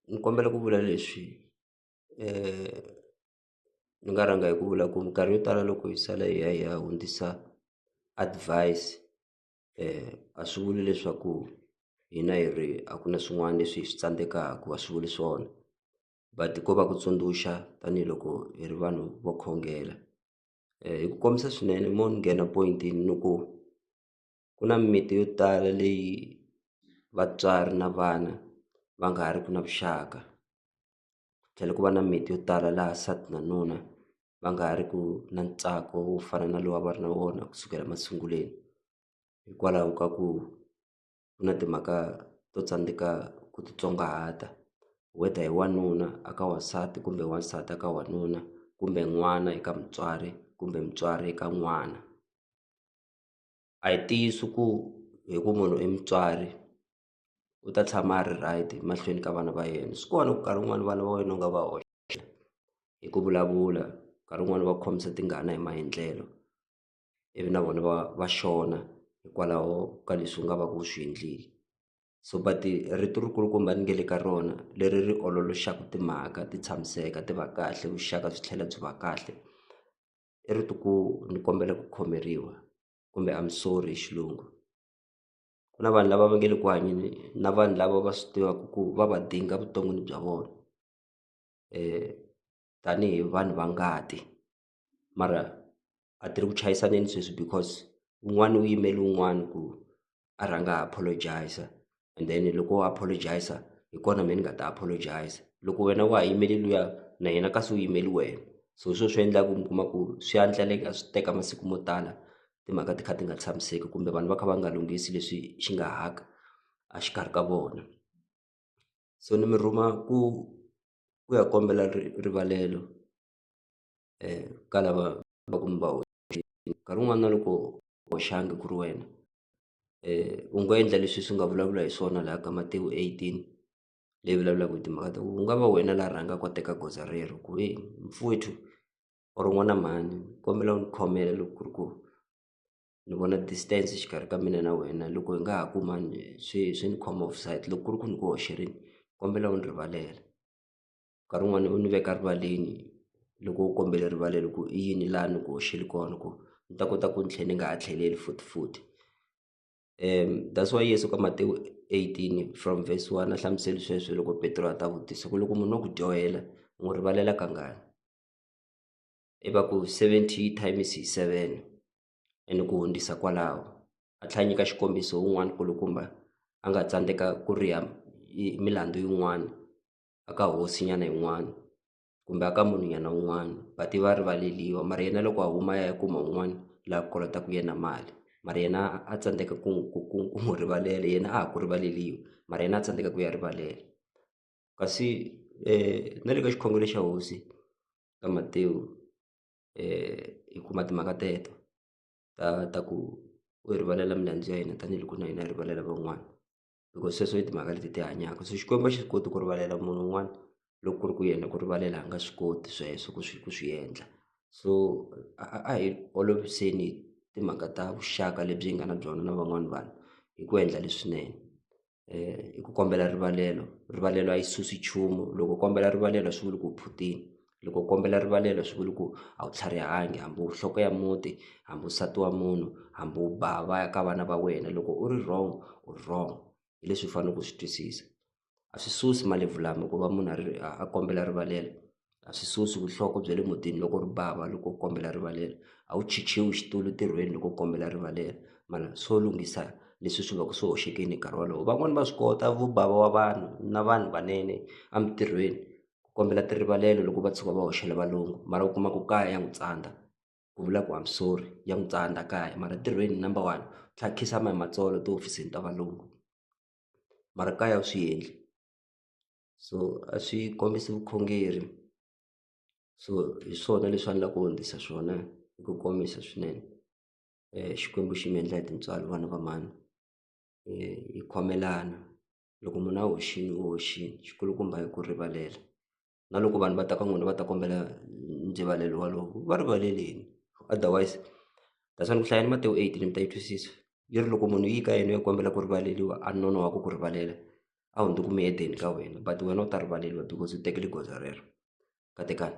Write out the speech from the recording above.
ni kombela ku vula leswi ni nga rhanga hi ku vula ku minkarhi yo tala loko hi sala hi ya hi ya hundzisa advise a swi vuli leswaku hina hi ri a ku na swin'wana leswi hi swi tsandzekaka a swi vuli swona but ko va ku tsundzuxa tanihiloko hi ri vanhu vo khongela hi ku kombisa swinene mo ni nghena point ni ku. ku na mimiti yo tala leyi vatswari na vana va nga ha ri ki na vuxaka ku tlhela ku va na miti yo tala laha nsati na nuna va nga ha ri ku na ntsako wo fana na lowu a va ri na wona kusukela masunguleni hikwalaho ka ku ku na timhaka to tsandzeka ku titsongahata whether hi wanuna a ka wansati kumbe wansati a ka wanuna kumbe n'wana eka mutswari kumbe mutswari eka n'wana. a hi ntiyiso ku hi ku munhu i mutswari u ta tshama a ri right mahlweni ka vana va yena swi kona ku nkarhi wun'wani vana va wena u nga va hoxa hi ku vulavula nkarhi wun'wani va ku khomisa tingana hi maendlelo ivi na vona va va xona hikwalaho ka leswi u nga va ku u swi endlile so but rito ri kulukumba ni nge le ka rona leri ri ololoxaku timhaka ti tshamiseka ti va kahle vuxaka byi tlhela byi va kahle. i ri ti ku ni kombela ku khomeriwa kumbe I'm sorry hi xilungu ku na vanhu lava va nge le ku hanyeni na vanhu lava va swi tivaka ku va va dinga vuton'wini bya vona tanihi vanhu va ngati mara a ti ri ku chayisaneni sweswi because un'wana u yimele un'wana ku a rhanga a apologize and then loko wo apologize hi kona me ni nga ta apologize loko wena wa ha yimele luya na yena kasi u yimeli wena so hi swo swi endlaku mi kuma ku swi ya ndleleka swi teka masiku mo tala timhaka ti kha ti nga tshamiseki kumbe vanhu va kha va nga lunghisi leswi xi nga haka a xikarhi ka vona so ni mi rhuma ku ku ya kombela rivalelo. eh, ka lava va ku mi va nkarhi wun'wana loko hoxanga ku ri wena um u nga endla leswi swi nga vulavula hi swona laha ka Matewu eighteen leyi vulavulaka hi timhaka ta ku u nga va wena la rhanga ku teka goza rero ku e mfowethu or n'wana mhani kombela u ni khomela loko ku ri ku ni vona distance xikarhi ka mina na wena loko hi nga ha kumani swi swi ni khoma offside loko ku ri ku ni ku hoxerini kombela u ni rivalela. nkarhi wun'wani u ni veka rivaleni loko u kombela erivaleni ku i yini laha ni ku hoxile kona ku ni ta kota ku ni tlhe ni nga ha tlheleli futhifuthi that's why Yeso ka Matewu eighteen from verse one a hlamusele sweswo loko Petro a ta vutisa ku loko munhu no ku dyohela u n'wi rivalela kangani i va ku seventy times hi seven ene ku hundzisa kwalaho a tlhela a nyika xikombiso wun'wani kulukumba a nga tsandzeka ku riha milandzu yin'wani. a ka hosinyana yin'wana kumbe a ka munhu nyana un'wana va tiva rivaleliwa mara yena loko a huma ya ya kuma un'wana la kolotaka yena mali mara yena a tsandzeka ku ku ku ku n'wi rivalela yena a ha ku rivaleliwi mara yena a tsandzeka ku ya rivalela kasi na le ka xikhongelo xa hosi ka Matewu hi kuma timhaka teto ta ta ku u rivalela milandzu ya hina tanihiloko na hina hi rivalela van'wana. because sweswo i timhaka leti ti hanyaka so xikwembu a xi swi koti ku rivalela munhu un'wana loko ku ri ku yena ku rivalela a nga swi koti sweswo ku swi ku swi endla so a hi oloviseni timhaka ta vuxaka lebyi hi nga na byona na van'wani vanhu hi ku endla leswinene um hi ku kombela rivalelo rivalelo a yi susi nchumu loko kombela rivalelo a swi vuli ku u phutini loko u kombela rivalelo swi vula ku a wu tlharihangi hambi u nhloko ya muti hambi nsati wa munhu hambi u ba va ya ka vana va wena loko u ri wrong u ri wrong hi leswi u faneleke u swi twisisa a swi susi malebvu lama ku va munhu a ri a kombela rivalelo a swi susi vuhloko bya le mutini loko u ri bava loko u kombela rivalelo a wu chichiwi xitulu ntirhweni loko u kombela rivalelo mara swo lunghisa leswi swi va ku swi hoxekile hi nkarhi wolowo van'wani va swi kota vu bava wa vanhu na vanhu vanene emintirhweni. ku kombela rivalelo loko va tshuka va hoxela valungu mara u kuma ku kaya ya n'wi tsandza ku vula ku I'm sorry ya n'wi tsandza kaya mara ntirhweni number one tlhe a khinsama hi matsolo tihofisini ta valungu mara kaya u swi endli so a swi kombisi vukhongeri so hi swona leswi a ni la ku hundzisa swona hi ku komisa swinene Xikwembu xi mi endla hi tintswalo vana va mhani hi khomelana. loko munhu a hoxile u hoxile xikulukumba i ku rivalela na loko vanhu va ta ka n'wina va ta kombela ndzivalelo walowo va rivaleleni otherwise that's why ni ku hlayani Matewu eight mi ta yi twisisa yi ri loko munhu u yi ka yena u ya kombela ku rivaleliwa a nonohaka ku rivalela a hundzuka muyedeni ka wena but wena u ta rivaleliwa because u tekile goza rero katekani.